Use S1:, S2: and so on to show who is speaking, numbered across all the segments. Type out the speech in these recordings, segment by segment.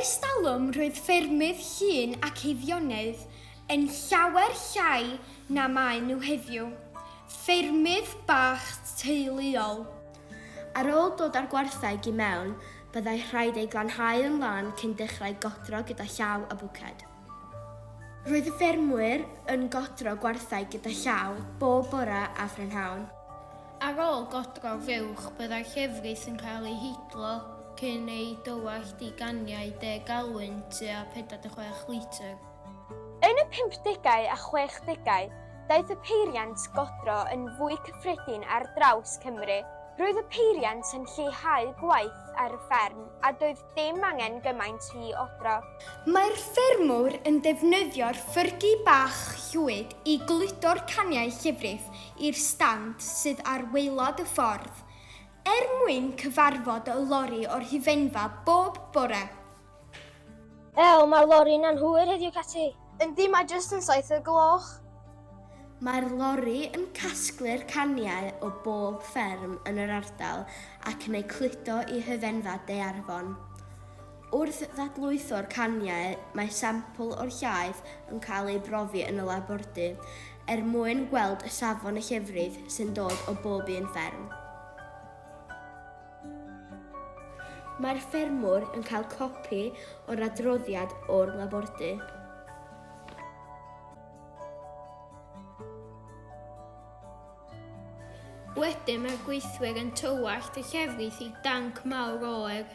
S1: Ers talwm roedd ffermydd llun ac eiddionaidd yn llawer llai na maen nhw heddiw, ffermydd bach teuluol. Ar
S2: ôl dod â'r gwartheg i mewn, byddai rhaid ei glanhau yn lân cyn dechrau godro gyda llaw a bwced. Roedd y ffermwyr yn godro gwartheg gyda llaw bob bore a phrynhawn. Ar ôl
S3: godro'r fuwch, byddai'r llefrith yn cael ei hidlo cyn ei dywallt i ganiau deg galwyn tua 46 litr. Yn y
S4: pumpdegau a chwechdegau, daeth y peiriant godro yn fwy cyffredin ar draws Cymru. Roedd y peiriant yn lleihau gwaith ar y fferm a doedd dim angen gymaint i odro. Mae'r
S1: ffermwr yn defnyddio'r ffyrgi bach llwyd i gludo'r caniau llifrif i'r stand sydd ar waelod y ffordd, er mwyn cyfarfod y lori o'r hufenfa bob bore.
S5: Ew, mae'r lori'n anghywir heddiw, Catty. Yndi, mae jyst yn
S4: saith o'r gloch. Mae'r
S2: lori yn casglu'r caniau o bob fferm yn yr ardal ac yn eu cludo i hyfenfa Daearfon. Wrth ddadlwytho'r caniau, mae sampl o'r llaeth yn cael ei brofi yn y labordy er mwyn gweld y safon y llefrith sy'n dod o bob un fferm. Mae'r ffermwr yn cael copi o'r adroddiad o'r labordy.
S3: Wedyn mae'r gweithwyr yn tywallt y llefrith i danc mawr oer.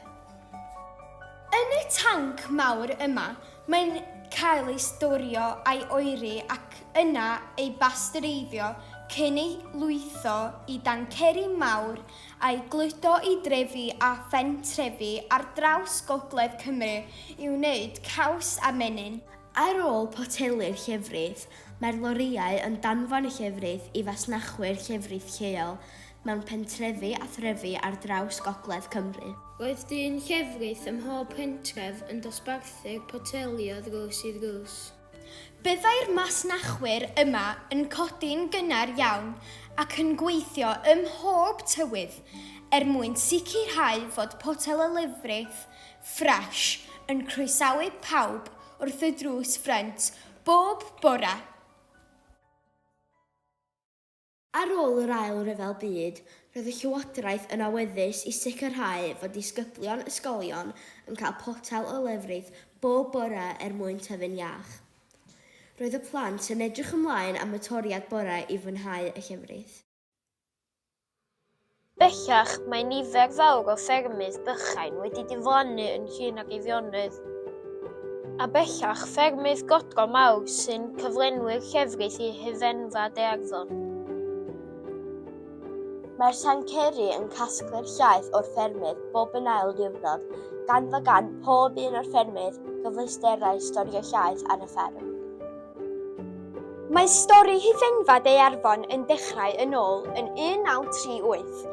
S1: Yn y tanc mawr yma, mae'n cael ei storio a'i oeri ac yna ei basteureiddio cyn ei lwytho i danceri mawr a'i gludo i drefi a phentrefi ar draws gogledd Cymru i wneud caws a menyn. Ar ôl
S2: potelu'r llefrith, mae'r lorïau yn danfon y llefrith i fasnachwyr llefrith lleol mewn pentrefi a threfi ar draws gogledd Cymru. Roedd dyn
S3: llefrith ym mhob pentref yn dosbarthu'r poteli o ddrws i ddrws. Byddai'r
S1: masnachwyr yma yn codi'n gynnar iawn ac yn gweithio ym mhob tywydd er mwyn sicrhau fod Potel y Lefrith Ffres yn croesawu pawb wrth y drws ffrynt bob bore.
S2: Ar ôl yr Ail Ryfel Byd, roedd y Llywodraeth yn awyddus i sicrhau fod disgyblion ysgolion yn cael potel o lefrith bob bore er mwyn tyfu'n iach. Roedd y plant yn edrych ymlaen am y toriad bore i fwynhau y llefrith.
S5: Bellach, mae nifer fawr o ffermydd bychain wedi diflannu yn llun ag Eirionnydd, a bellach, ffermydd godro mawr sy'n cyflenwi'r llefrith i hufen-fad Earddon.
S2: Mae'r Llancery yn casglu'r llaeth o'r ffermydd bob yn ail ddiwrnod, gan fod gan pob un o'r ffermydd gyfleusterau storio llaeth ar y fferm.
S4: Mae stori Hithengfa Deiarfon yn dechrau yn ôl yn 1938,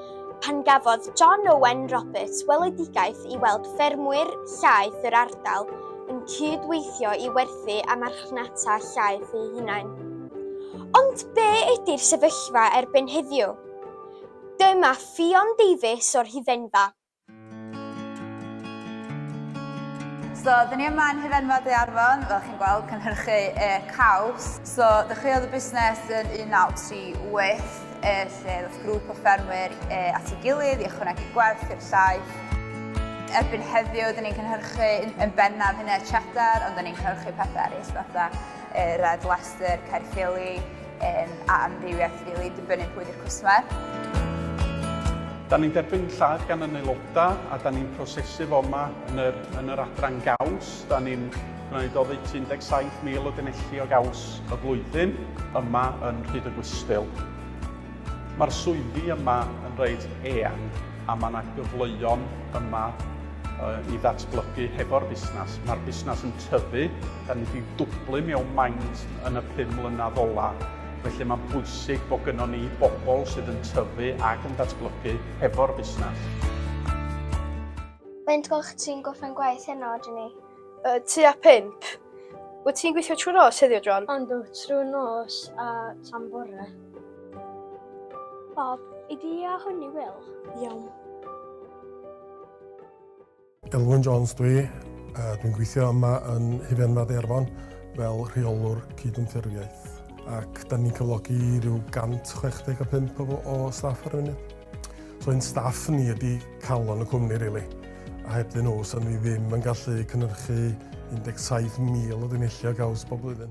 S4: pan gafodd John Owen Roberts weledigaeth i weld ffermwyr llaeth yr ardal yn cyd-weithio i werthu a marchnata llaeth eu hunain. Ond be ydi'r sefyllfa erbyn heddiw? Dyma Ffion Davies o'r Hithengfa.
S6: So, dyn ni yma yn Hufenfa Daearfon, fel chi'n gweld, cynhyrchu e caws. So, dechreuodd y busnes yn 1938, e, lle ddoth grŵp o ffermwyr e, at ei gilydd i ychwanegu gwerth i'r llaeth. Erbyn heddiw, dyn ni'n cynhyrchu yn bennaf hynna cheddar, ond dyn ni'n cynhyrchu pethau eraill fatha e, Red Leicester, Caerffili, Yn a amrywiaeth rili, dibynnu pwy 'di'r cwsmer.
S7: Da ni'n derbyn llaeth gan yn aelodau a da ni'n prosesu fo yma yn yr, yn yr adran gaws. Da ni'n gwneud oddeutu 17,000 o denelli o gaws y flwyddyn yma yn Rhyd y Gwystyl. Mae'r swyddi yma yn reit eang a mae yna gyfleoedd yma i ddatblygu hefo'r busnes. Mae'r busnes yn tyfu Da ni wedi dwblu mewn maint yn y pum mlynedd ola, felly mae'n bwysig bod gynnon ni bobl sydd yn tyfu ac yn datblygu hefo'r busnes.
S5: Faint o'ch ti'n gorffen gwaith heno, Jenny? Uh, tua
S4: pimp. Wyt ti'n gweithio trwy nos heddiw, John? Ond o, trwy
S5: nos a tan bore. Bob, i di a hwn i Wil. Iawn.
S8: Elwyn Jones dwi, a dwi'n gweithio yma yn Hufen Fad Eirfon fel rheolwr cydymffurfiaeth ac da ni'n cyflogi rhyw 165 o, o staff ar y funud. So ein staff ni ydy calon y cwmni rili. Really. A heb dyn nhw, so ni ddim yn gallu cynhyrchu 17,000 o dynulliau gaws bob blwyddyn.